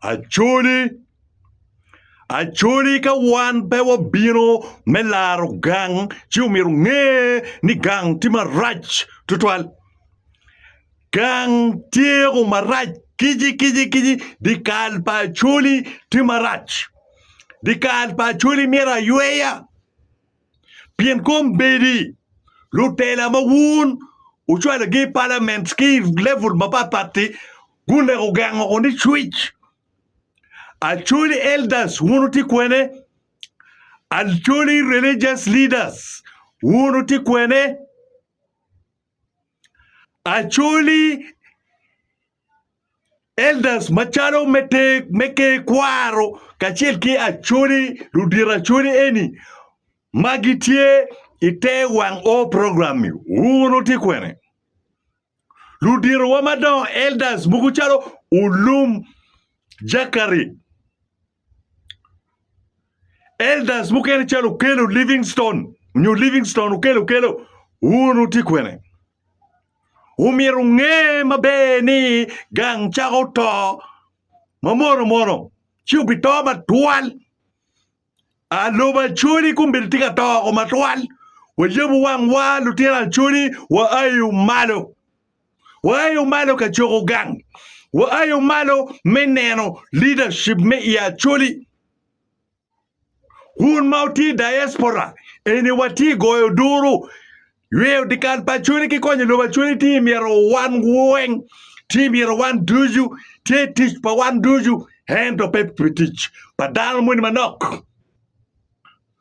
Acholi, Acholi ka wan pe wabino me laro gang ci omyero onge ni gang tye marac tutwal. Gang tyeko marac kici kici kici dyekal pa Acholi tye marac dyekal pa Acholi myero ayweya. pien kombeddi lutela ma wun wucwalogi i palament ki i level mapat patti guneko gugengo woko ni cwic. Acholi elders wun wutye kwene? Acholi religious leaders wun wutye kwene? Acholi Elders macalo me Ker Kwaro kacel ki Acholi, ludito Acholi eni ma gitye i te wang o program-mi, wun wutye kwene? Luditowa madongo, Elders mogo calo Olum Jakari, Elders mukene calo Okello Livingstone nyo Livingstone Okello Okello wun wutye kwene? Omyero nge maber ni gang cako to ma mono mono ci obito matwal. A lobo Acholi kong bene tye ka to woko matwal. Wayabo wangwa lutino Acholi wa aye malo. Waayo malo ka coko gang. Waayo malo me neno leadership me i Acholi. Wun ma wutye i diaspora, eni watye goyo duru. Yweyo dikal pa Acholi ki konyo lobo Acholi tye myero wan weng, tye myero wan ducu, tye tic pa wan ducu ento pe pi tic pa dano moni manok.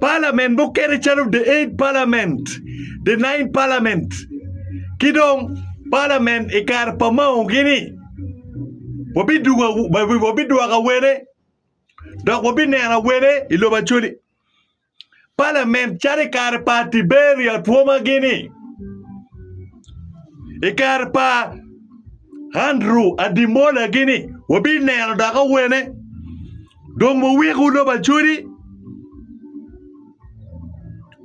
Palament mukene calo the Eight Palament, the Nine Palament ki dong Palament i kare pa Mao-gini, wabidwoko awene dok wabineno awene i lobo Acholi. Palament calo i kare pa Tiberia Twoma-gini, i kare pa Andrew Ademola-gini wabineno dok awene. Dong wuwikwu lobo acodi,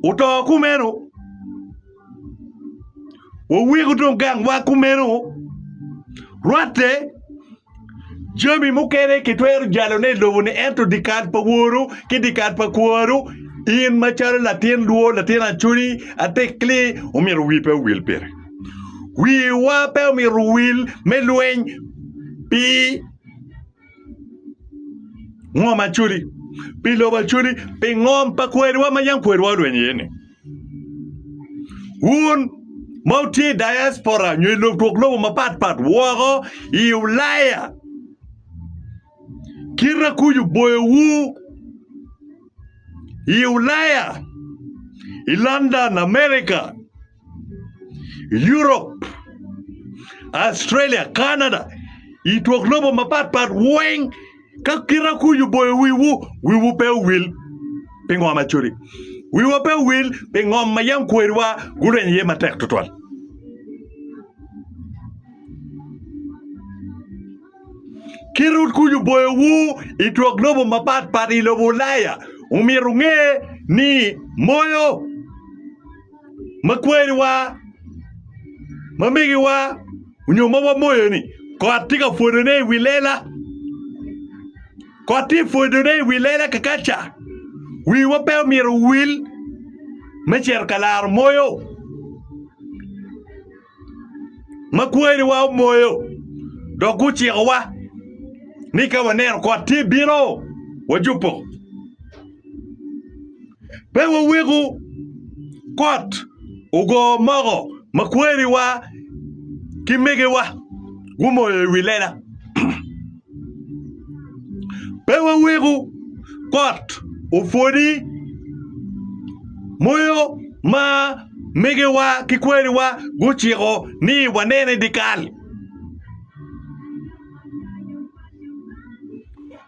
wuto kumeno, wuwikwu dong gangwa kumeno. Rwatte, jami mukene kitwero jalone i lobo-ni, ento dyekal pa woru ki dyekal pa kwaru, in macalo latin lwor, latin acodi, atekli, omyero wii pe owil pire. Wiwa pe omyero owil me lweny pi. Ngom Acholi, pi lobo Acholi, pi ngom pa kweriwa ma yam kweriwa olweny iye-ni. Wun ma wutye i diaspora nyo i lob twok lobo mapat pat woko i Ulaya, kite kuc oboyowu i Ulaya, i London, Amerika. Europe, Australia, Canada, i twok lobo mapat pat weng ka kita kuc oboyo wiwu, wiwu pe owil pi ngo ma codi. Wiwa pe owil pi ngom ma yam kweriwa gureny iye matek tutwal. Kit ut kuc oboyowu i twok lobo mapat pat i lobo Ulaya, omyero wunge ni moyo ma kwariwa, ma migiwa onyo ma wamoyo ni kot tye ka pwodone i wi lela, kot tye ka pwodone i wi lela kakaca wiwa pe omyero owil me cito ka laro moyo. ma kwariwa omoyo dok gucikowa ni ka waneno kot tye bino, wajubo. Pe waweku kot ogo moko ma kwariwa ki megiwa gumoyo i wi lela. Pe waweko kot opwodi moyo ma megiwa ki kwariwa guciko ni wanene dyekal.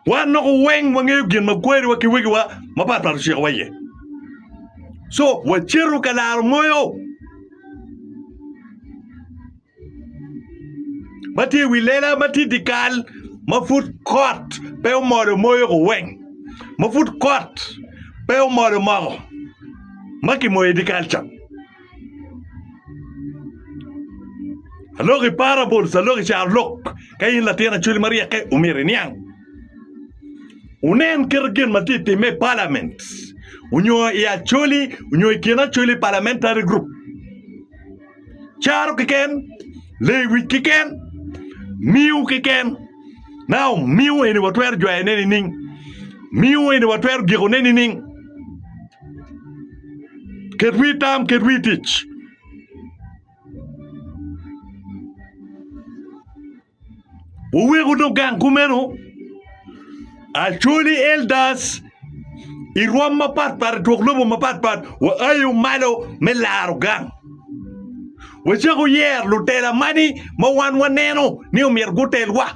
Wan dok weng wangeyo gin ma kwariwa ki wegiwa mapat pat ocikowa iye. Co wacito ka laro moyo. ma tye i wi lela ma tye i dye kal ma pud kot pe omol omoyo kuweng ma pud kot pe omol omoko ma kimoyo i dye kal ca aloko i parables aloko i carolok ka in latin acholi ma ryeke omyero iniang wunen kit gin ma tye ka timme i palament nyo i acholi nyo i kin acholi, parliamentary group. caro keken, lewic keken, miyo keken. Now, miyo eni watwero jwayone nining? Miyo eni watwero gikone nining? Ket wi tam, ket wi tic. Wuwek wudog gang kumeno. Acholi elders i rwom mapatpat i twok lobo mapatpat waayo malo me laro gang. Wacak wuyer lutela mani ma wan waneno ni omyero gutelwa.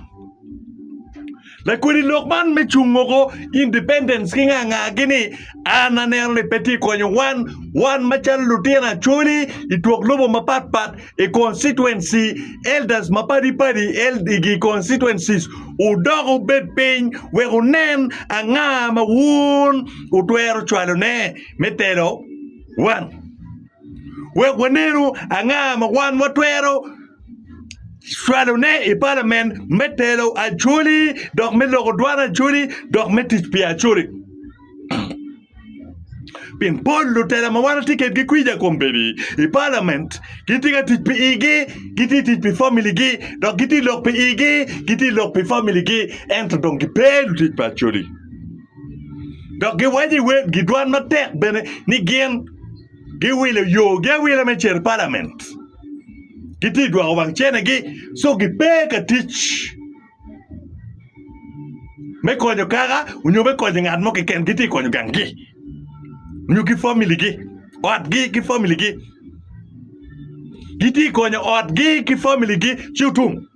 Lakwedi lok man me cungo ko independence ki nga nga gi ni an aneno ni pe tye konyo wan, wan macalo lutino acholi i twok lobo mapat pat i constituency, elders mapadi padi eld igi constituencies wudok wubed piny wek wunen anga ma wun wutwero cwalo ne me telo wan. Wek wanenu anga ma wan watwero cwalone i palament me telo acholi dok me loko dwan acholi dok me tic pi acholi pien pol lutela ma wan watye kwedgi kwija kom bedo i palament gitye ka tic pi igi gitye tic pi familigi dok gitye lok pi igi gitye lok pi familigi ento dong gipe lutic pa acholi dok giwaco i wer gidwan matek bene ni gin Giwilo yogi awila me cito i palament. Gitye ka dwoko wang cenegi so gipe ka tic me konyo kaka nyo me konyo ngat mo keken. Gitye ka konyo ganggi nyo ki familigi, otgi ki familigi. Gitye ka konyo otgi ki familigi ci otum.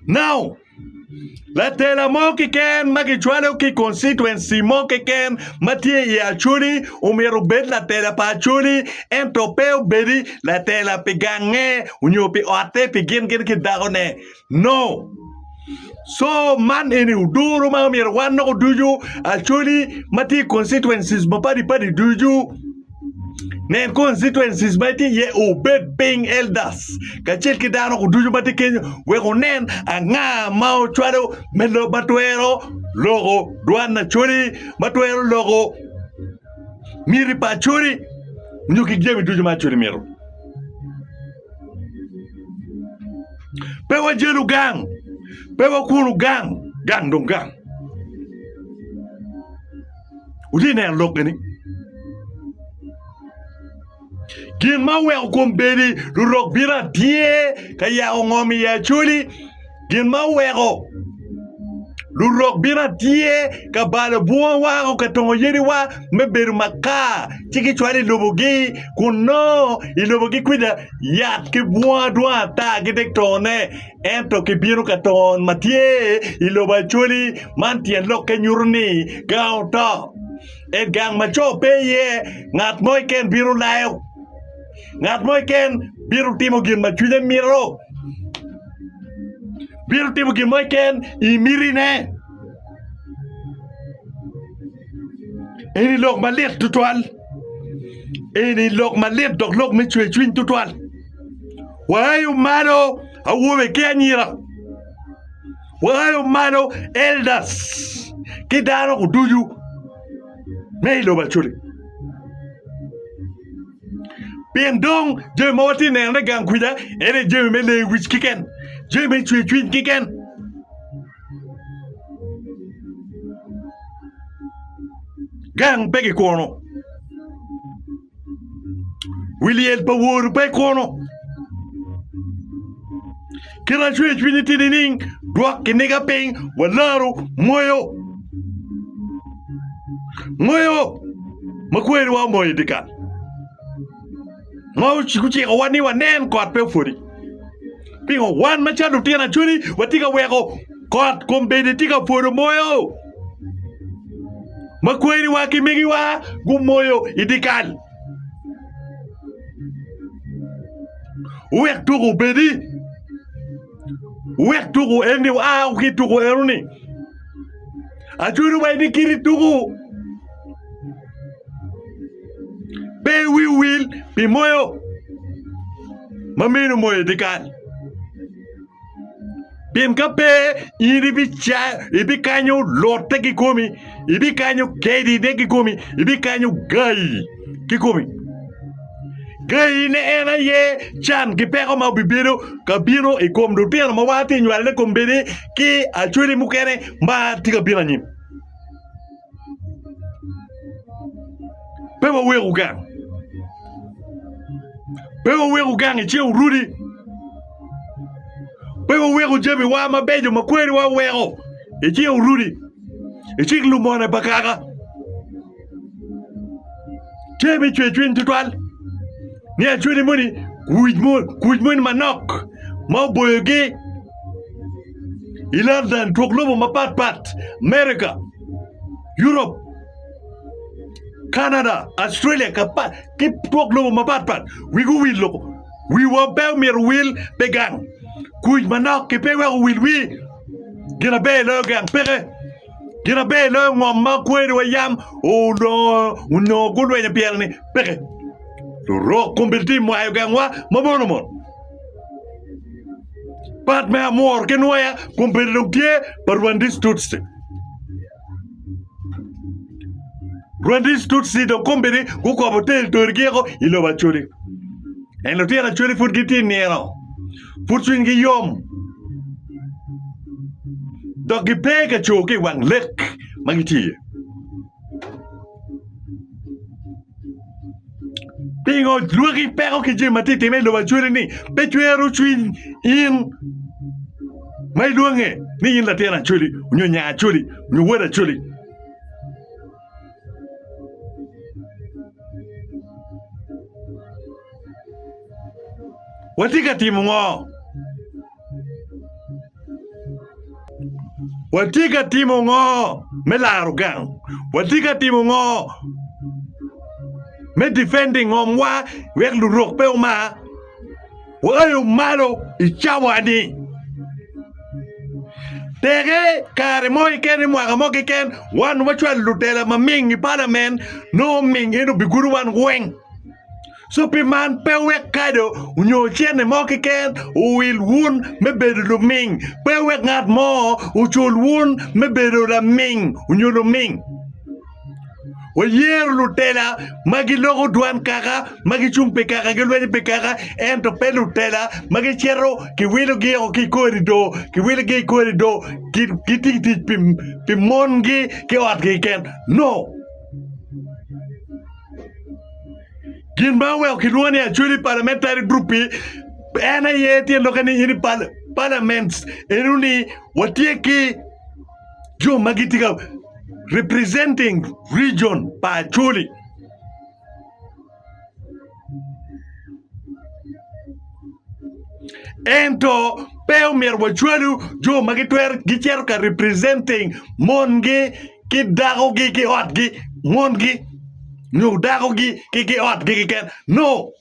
Now. Latela mo keken ma kicwalo ki i koncituenci mo keken ma tye i Acholi omyero obed latela pa Acholi ento pe obedi latela pi gange nyo pi otte pi gin gin ki dakone no co man eni oduru ma myero wan dok oducu Acholi ma tye i koncituenci mapadi padi ducu. Nen constituencies ma itye iye, obed piny elders kacel ki dano ducu ma tye kenyo wek wunen anga ma wucwalo me lok ma twero loko dwan Acholi, ma twero loko miti pa Acholi nyo ki jami ducu ma Acholi mito. Pe wajelu gang, pe wakunu gang, gang dong gang. Wutye ka neno lok eni? Gin ma oweko kom bedi lurok bino atye ka yako ngom i Acholi. Gin ma oweko lurok bino atye ka balo bunga wako ka tongo yadiwa me bedo makar ci gicwalo i lobogi kun nongo i lobogi kwija yat ki bunga dwong ata gitye ka tongone. Ento kibino ka ton ma tye i lobo Acholi, man tyen lokke nyuto ni gang oto. I gang ma co pe iye, ngat mo keken bino layo. Ngat mo keken bino timo gin ma cwinye mito. Bino timo gin mo keken i mitine. Eni lok malit tutwal. Eni lok malit dok lok me cwer cwiny tutwal. Waayo malo awobe ki anyira. Waayo malo elders ki dano ducu me i lobo Acholi. Pien dong jami ma watye neno ni gang kwija en aye jami me leyo wic kiken, jami me cwe cwiny kiken. Gang pe gikwono. Wi lyel pa Woru pe kunu. Kit acweyo cwinyi tye nining? Dwok kiniga piny, walaro moyo. Moyo ma kweriwa omoyo dyekal ma gucikowa ni wanen kot pe opwodi. Pingo wan macalo lutino acwali watye ka weko kot kombeddi tye ka pwodo moyo? ma kweriwa ki migiwa gumoyo i dikal wek tuko obedi wek tuko eni wa ki tuko eno ni ajwero wa ni kiti tuko pe wi wil pi moyo ma mine omoyo i dikal. Pien ka pe, in ibikanyo lotte kikomi, ibikanyo kedine kikomi, ibikanyo gayi kikomi. Gayi ne en aye can ki peko ma obibedo ka bino i kom lutino ma watye ka nywalone i kom bedi ki acholi mukene ma tye ka bino anyim. Pe wuwek wugang. Pe wuwek wugang ice wurudi. Pe wuwek jamiwa mabeco ma kweriwa oweko ice wurudi. Icik lumone pa kaka. Tye me cwer cwiny tutwal ni acwele moni kuc moni manok ma oboyogi. i London twok lobo mapat pat, America, Europe, Canada, Australia ki twok lobo mapat pat wigi owil loko. Wiwa pe omyero owil pi gang kuc manok ki pe iweko owil wii. Gin aber loyo gang peke. Gin aber loyo ngom ma kweriwa yam olongo onongo gulwenyo pyereni peke. Lurok komiti mwayo gangwa ma mono mono. Part me amor ki nwoya kun bedo dong tye pa Rwandese Tutsi. Rwandese Tutsi dong kombeddi gukobo territory giko i lobo Acholi. En lutino Acholi pud gitye nino. Pud cwinygi yom. Dok gipe ka co ki wang lek ma gitye iye. Pingo lwaki peko ki jami ma tye ka timme i lobo acwele ni pe cwero cwiny in ma ilwonge ni in latin acweli nyo nya acweli nyo wod acweli? Watye ka timo ngo? Watye ka timo ngo me laro gang? Watye ka timo ngo me difending ngomwa wek lurok pe omar? Waayo malo i cawa-ni. Teke kare mo keken i mwaka mo keken wan wacwalo lutela maming i palamen nongo oming en obigudo wan weng. Cu pi man pe wek kado nyo cente mo keken owil wun me bedo luming, pe wek ngat mo ocul wun me bedo laming nyo luming. Wayero lutela ma giloko dwan kaka ma gicung pi kaka gilwenyo pi kaka, ento pe lutela ma gicito kiwilogi o ki i korido, kiwilogi i korido gitye ka tic pi mongi ki otgi keken. No. Gin ma oweko kilwongo ni Acholi Parliamentary Group en aye tye lok ni in parliament eno ni watye ki jo ma gitye ka representing region pa Acholi. Ento pe omyero wacwalu jo ma gitwero gicito ka representing mongi ki dakogi ki otgi, mongi nyo dakogi ki ki otgi keken. No,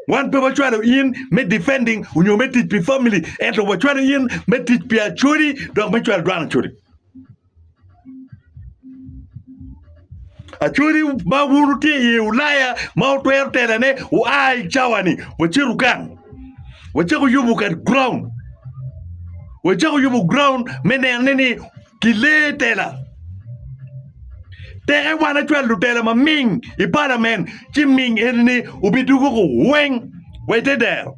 wan pe wacwalo in me defending nyo me tic pi family ento wacwalo in me tic pi acholi dok me cwalo dwan acholi. Acholi ma wun wutye i ye ulaya ma wutwero telo ne wua i cawa ni wacito gang wacako yubo kar ground wacako yubo ground me nene ni kilee tela teke wan acwal lutela ma ming i palament ci ming eni ni wubidwogo weng wa ite dero.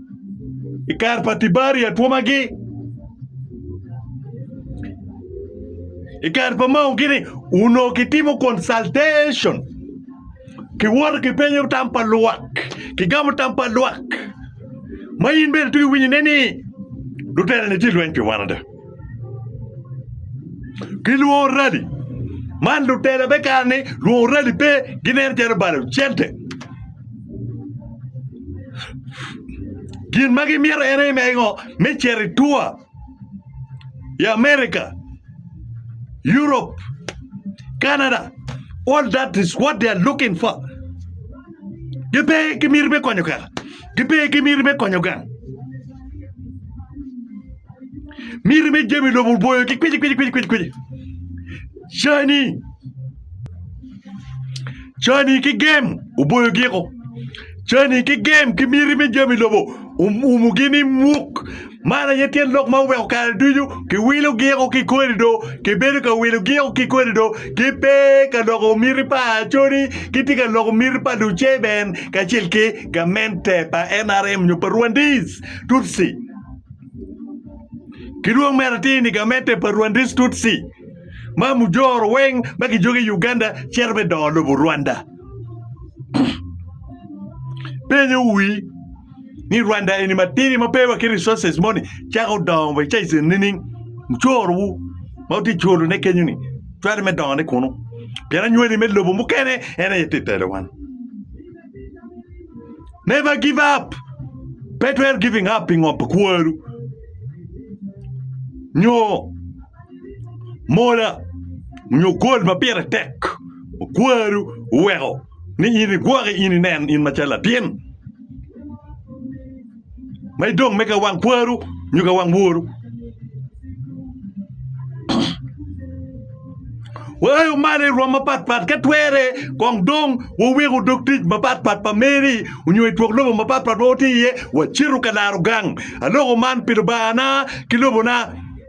i kare pa Tibaria twomagi i kare pa Mao gini onongo kitimo consultation kiwoto kipenyo tam pa lwak kigamo tam pa lwak ma in bene twero winyo ine ni luterani tye lweny pi wan ada. Gilwongo rali man lutela me kare-ni lwongo rali pe ginen calo balo cente gin ma gimito en aye me ngo me cito i tua i America, Europe, Canada all that is what they are looking for gipe ki miti me konyo kaka. Gipe ki miti me konyo gang. Miti me jami lobo oboyo ki kwici kwici kwici kwici kwici. Cani cani ki gem oboyo giko. Cani ki gem ki miti me jami lobo umugi ni muk Man aye tyen lok ma oweko kare ducu kiwilo giko ki kodi do, kibedo ka wilo giko ki kodi do, ki pe ka loko miti pa Acoli, kitye ka loko miti pa Duceban kacel ki gamente pa NRM nyo pa Rwandese Tutsi. Ki dwong medo atir ni gamente pa Rwandese Tutsi ma mujoro weng ma kijogi i Uganda cito me dongo lobo Rwanda. Penyo wi. ni Rwanda eni matidi ma pe waki resources moni cako dongo wa ca ise nining mucoro wu ma wutye coro ne kenyo ni twero me dongo ne kunu pien anywali me lobo mukene en aye tye telo wan never give up pe twero giving up pi ngo pi kworu nyo mola nyo gold ma pire tek ma kworu oweko. ni in igwoki in inen in macalo latin ma idong me ka wang kwaru nyo ka wang woru. Waayo malo i rwom mapatpat ka twere kong dong waweko dog tic mapatpat pa meri onyo i twok lobo mapatpat ma watye iye wacito ka laro gang. Aloko man pi Lubangana ki lobona.